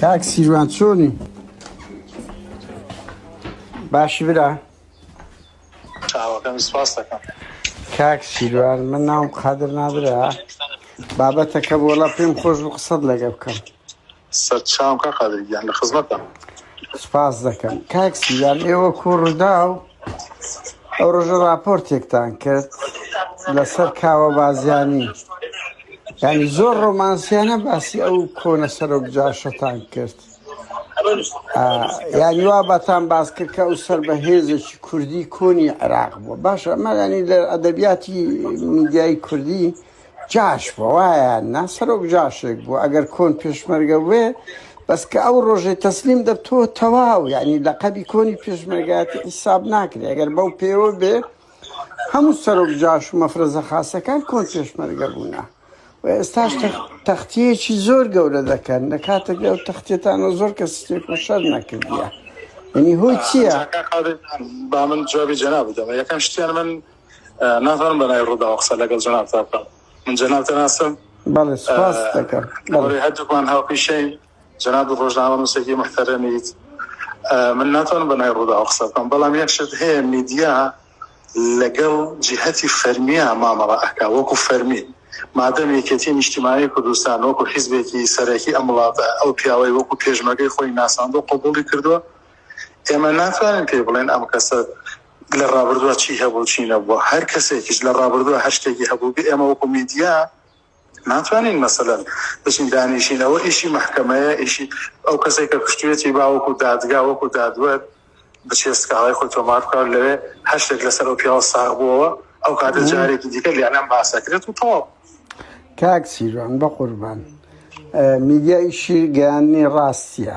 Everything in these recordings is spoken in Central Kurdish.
کاک سیروان چۆنی باشی برا چاوەکەم سپاس دەکەم کاک سیروان من ناوم قادر نادرا بابەتەکە بۆڵە پێم خۆش و قسەت لەگە بکەم سەرچاوکە قادرگیان لە خزمەتە سپاس دەکەم کاک سیروان ئێوە کوڕدا و ئەو ڕۆژە ڕاپۆرتێکتان کرد لەسەر کاوە بازیانی ینی زۆر ڕۆمانسیانە باسی ئەو کۆنە سەرۆک جاشەتان کرد یانی وا بەتان باس کرد کە ئەو سەر بە هێزێکی کوردی کۆنی عێراق بووە باشە ئەمەلانی لە ئەدەبیاتی میدیایی کوردی جاش بوو وایە نا سەرۆک جاشێک بوو ئەگەر کۆن پێشمەرگە بوێ بەس کە ئەو ڕۆژەی تەسلیم دەب تۆ تەواو یعنی لە قەبی کۆنی پێشمەرگاتی حیساب ناکرێ ئەگەر بەو پێوە بێ هەموو سەرۆک جاش و مەفرەزە خاستەکان کۆن پێشمەرگە بوونە و ئێستاش تەختیەکی زۆر گەورە دەکەن لە کاتێک ئەو تەختێتانەوە زۆر کە سێک و شەر نەکردە. یعنی هۆی چییە؟ با من جوابی جەنا بدەمە یەکەم شتیان من نازانم بە ناوی ڕووداوە قسە لەگەڵ جەنابتا بکەم من جەنابتە ناسم بەڵێ سپاس دەکەم بەڵێ هەردووکمان هاوپیشەین جەناب ڕۆژنامە نووسێکی محتەرەمیت من ناتوانم بە ناوی ڕووداوە قسە بکەم بەڵام یەک شت هەیە میدیا لەگەڵ جیهەتی فەرمیە مامەڵە ئەکا وەکو فەرمی مادەم یەکێتی نیشتیمانی کوردستان وەکو حیزبێکی سەرەکی ئەم وڵاتە ئەو پیاوەی وەکو پێشمەگەی خۆی ناساندۆ قوبولی کردووە ئێمە ناتوانین پێ بڵێن ئەم کەسە لە ڕابردووە چی هەبوو چی نەبووە هەر کەسێکیش لە ڕابردووە هەر شتێکی هەبووبێ ئێمە وەکو میدیا ناتوانین مەسەلەن بچین دانیشین ئەوە ئیشی مەحکەمەیە ئیشی ئەو کەسێک کە کوشتوێتی با وەکو دادگا وەکو دادوەر بچێ سکاڵای خۆی تۆمار بکات لەوێ هەر شتێک لەسەر ئەو پیاوە ساغ بووەوە ئەو کاتە جارێکی دیکە لێنان باسەکرێت و تەواو کاک سیروان بە قوربان میدیا ئیشی گەیاندنی ڕاستیە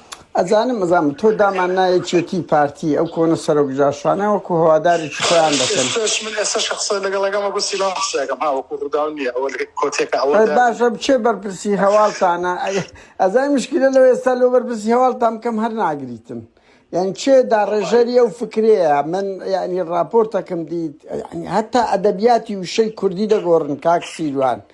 ئەزانم ئەزانم تۆ دامان نایە چێتی پارتی ئەو کۆنە سەرۆک جاشانە وەکو هەوادارێکی خۆیان دەکەن ئێستاش من ئێستا شخصە لەگەڵ لەگەڵ مەگو سیلا قسەکەم ها وەکو ڕووداو نییە ئەوە لە کۆتێکە ئەوە ئەی باشە بچێ بەرپرسی هەواڵتانە ئەی- ئەزای مشکلە لەوە ئێستا لۆ بەرپرسی هەواڵتان بکەم هەر ناگریتن یعنی چێ داڕێژەری ئەو فکرەیە من یعنی ڕاپۆرتەکەم دیت یعنی هەتا ئەدەبیاتی وشەی کوردی دەگۆڕن کاک سیروان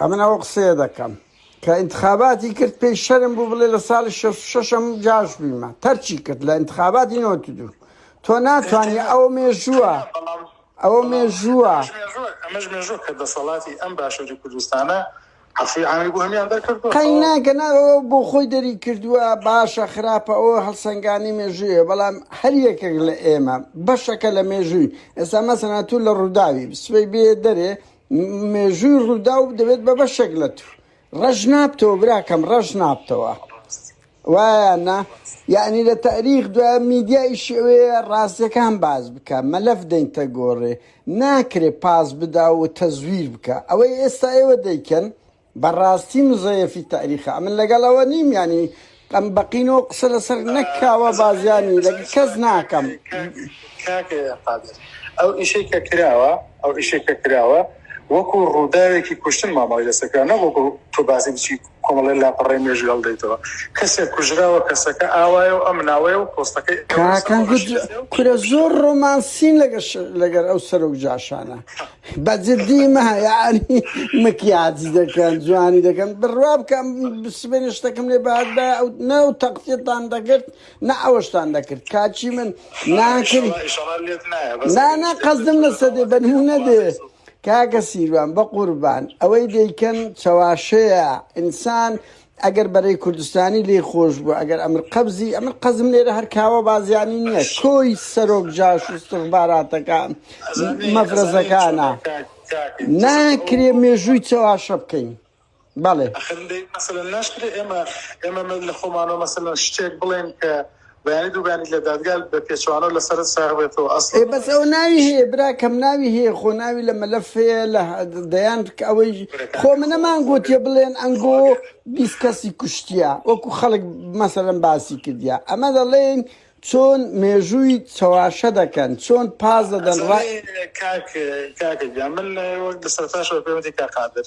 ئەمن ئەوە قسەیە دەکەم کە ئینتخاباتی کرد پێی شەرم بوو بڵێ لە ساڵی 66م جاش بیمە تەرچی کرد لە ئینتخاباتی نۆ دوو تۆ ناتوانانی ئەو مێژووە ئەوە مێژووە ئەمەش مێژوو کە دەسەڵاتی ئەم باشووری کوردستانە عفوی عامی بۆ هەمیان دەرکرد قەیناکە ناەوە بۆ خۆی دەری کردووە باشە خراپە ئەو هەڵسەنگانی مێژوویە بەڵام هەر یەکێک لە ئێمە بەشەکە لە مێژووی ئێستا مەسەنا تو لە ڕووداوی سوێ بێ دەرێ مێژووی ڕووداو دەبێت بە بەشێک لە تو ڕەش نابتەوە براکەم ڕەش نابتەوە وایە نا یعنی لە تاریخ دو میدیای شێوەیە ڕاستەکان باز بکە مەلەف دەینتە گۆڕێ ناکرێ پاس بدا و تەزویر بکە ئەوەی ئێستا ئێوە دەیکەن بەڕاستی مزەیەفی تاریخە ئەمن لەگەڵ ئەوە نیم یانی ئەم بەقینەوە قسە لەسەر نەکاوە بازیانی لەگ کەس ناکەم ئەو ئیشەی کە کراوە ئەو ئیشەی کە کراوە وەکو ڕووداوێکی کوشتن مامەڵی لەسەکە نەوەکو تۆ باسی بچی کۆمەڵی لاپەڕی مێژی هەڵدەیتەوە کەسێک کوژراوە کەسەکە ئاوایە و ئەم ناوەیە و پۆستەکەی کورە زۆر ڕۆمانسین لەگەر لەگەر ئەو سەرۆک جاشانە بە جدی مە یاری مکیاجی دەکەن جوانی دەکەن بڕوا بکەم سبێنێ شتەکەم لێ بەهات بە ئەو نە و تەقسیتان دەکرد نە ئەوەشتان دەکرد کاچی من ناکرد ئیشەڵا ئیشەڵا لێت نایە بەس نا ئەگەر نا شتێک دەت قەزدم لەسە دێ بە نمونە دێ کاکە سیروان بە قوربان ئەوەی دەیکەن چەواشەیە ئینسان ئەگەر بەرەی کوردستانی لێی خۆش بوو ئەگەر ئەمر قەبزی ئەمن قەزم لێرە هەر کاوە بازیانی نییە کۆی سەرۆک جاش و سخباراتەکە مەفرەزەکانە ناکرێ مێژووی چەواشە بکەین بەڵێ ئەخر لێ مەسەلەن ناشکرێ ئێمە ئێمە لە خۆمانەوە مەسەلەن شتێک بڵێن کە بەیانی دوو بەیانی لە دادگا بە پێچەوانەوە لە سەرت ساغ بێتەوە ئەسڵەن. ئێ بەس ئەوە ناوی هەیە براکەم ناوی هەیە خۆ ناوی لە مەلەف هەیە لە دەیان ئەوەی خۆ منەمان گۆتیە بڵێن ئەنگۆ بیست کەسی کوشتیە وەکو خەڵک مەسەلەن باسی کردیا ئەمە دەڵێن چۆن مێژووی چەواشە دەکەن چۆن پاز دەدەن ڕای کاک کاکە گیان من وەک لە سەرتاشەوە پێوەندی کاک قادر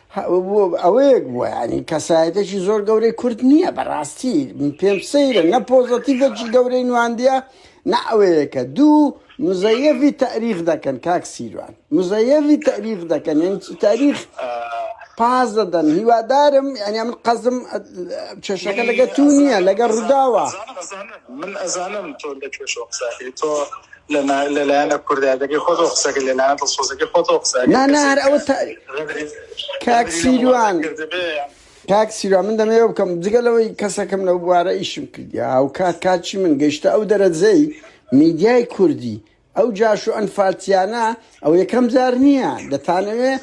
ئەوەیەک بووە ینی کەسایەتێکی زۆر گەورەی کورد نییە بەڕاستی پێم سەیرە نە پۆزەتیڤێکی گەورەی نواندە نە ئەوەیەکە دوو مزەیەوی تاریخ دەکەن کاک سیروان مزەیەوی تاریخ دەکەن یعنی تاریخ پاز دەدەن هیوادارم ینی من قەزم کێشەکە لەگە تو نییە لەگە ڕووداوە من ئەزانم تۆ لە کێشۆ قساکەی تۆ لەنا لەلایەنە کوردایەتەکەی خۆتەوە قسەکە لەلایەنە دڵسۆزەکەی خۆتەوە قسە ئەگەر نا نا کەسێک هەر ئەوە تا غەدری کاک غەدری لە وڵاتە سیروان کردبێ یان کاک سیروان من دەمەوێ بکەم جگە لەوەی کەسەکەم لەو بوارە ئیشم کردی هاوکات کاچی من گەیشتە ئەو دەرەجەی میدیای کوردی ئەو جاش و ئەنفالتیانە ئەو یەکەم جار نییە دەتانەوێ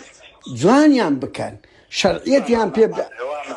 جوانیان بکەن شەرعیەتیان پێ بدا هەوانە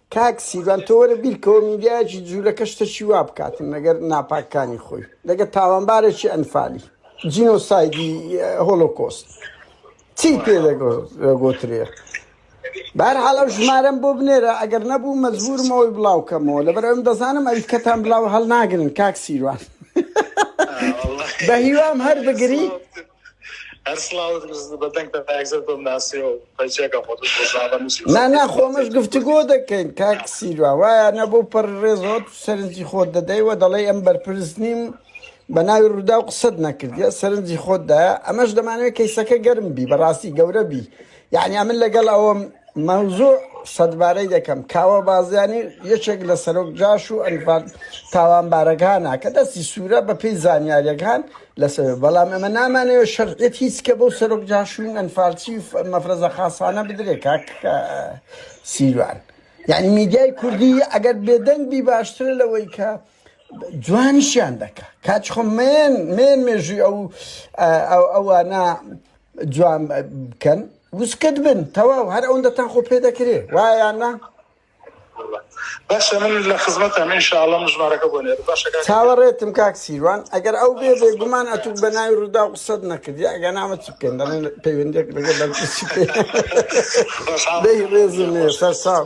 کاک سیروان تۆ وەرە بیرکەوە میدیایەکی جولەکە شتەکی وا بکاتن لەگەر ناپاکانی خۆی لەگە تاوانبارێکی ئەنفالی جینۆسایدی هۆلۆکۆست چی پێ دەگۆترێ بار حاڵە ژمارەم بۆ بنێرە ئەگەر نەبوو مەزبورمەوەی بڵاوکەمەوە لەبەر ئەم دەزانم ئەوی کەتان بلاوە هەڵناگرن کاک سیروان بە هیوام هەر بگری نا نا خۆمەش گفتوگۆ دەکەین کاک سیروا وایە نە بۆ پەر ڕێزەوە تو سەرنجی خۆت دەدەیوە دەڵێی ئەم بەرپرس نیم بە ناوی ڕوودا و قسەت نەکردە سەرنجی خۆتدایە ئەمەش دەمانوێت کەیسەکە گەرم بی بەڕاستی گەورە بی یەعنی ئەمن لەگەڵ ئەوەم مەوزوع سەدبارەی دەکەم کاوە بازیانی یەکێک لە سەرۆک جاش و ئەنفال تاوانبارەکانە کە دەستی سوورە بە پێی زانیاریەکان لەسەر بەڵام ئەمە نامانەوە شەرعێت هیچ کە بەو سەرۆک جاشوین ئەنفالچی مەفرەزە خاصانە بدرێ کاک سیروان یعنی میدیای کوردی ئەگەر بێدەنگ بی باشترە لەوەی کە جوانیشیان دەکە کاچ خۆ مێن مێن مێژوی ئەو ئەوانە جوان بکەن وسکت بن تەواو هەر ئەوەندەتان خۆ پێ دەکرێ وایان نا باشە من لە خزمەت ئەمین شاڵە مژمارەکە بۆ نێر باشە چاوەڕێتم کاک سیروان ئەگەر ئەو بێ بێ گومان ئەتوو بە ناوی ڕوودا قسەت نەکردی ئەگە نامە چ بکەین دەڵێن پەیوەندێک لەگە بەر ڕێزم سەر ساو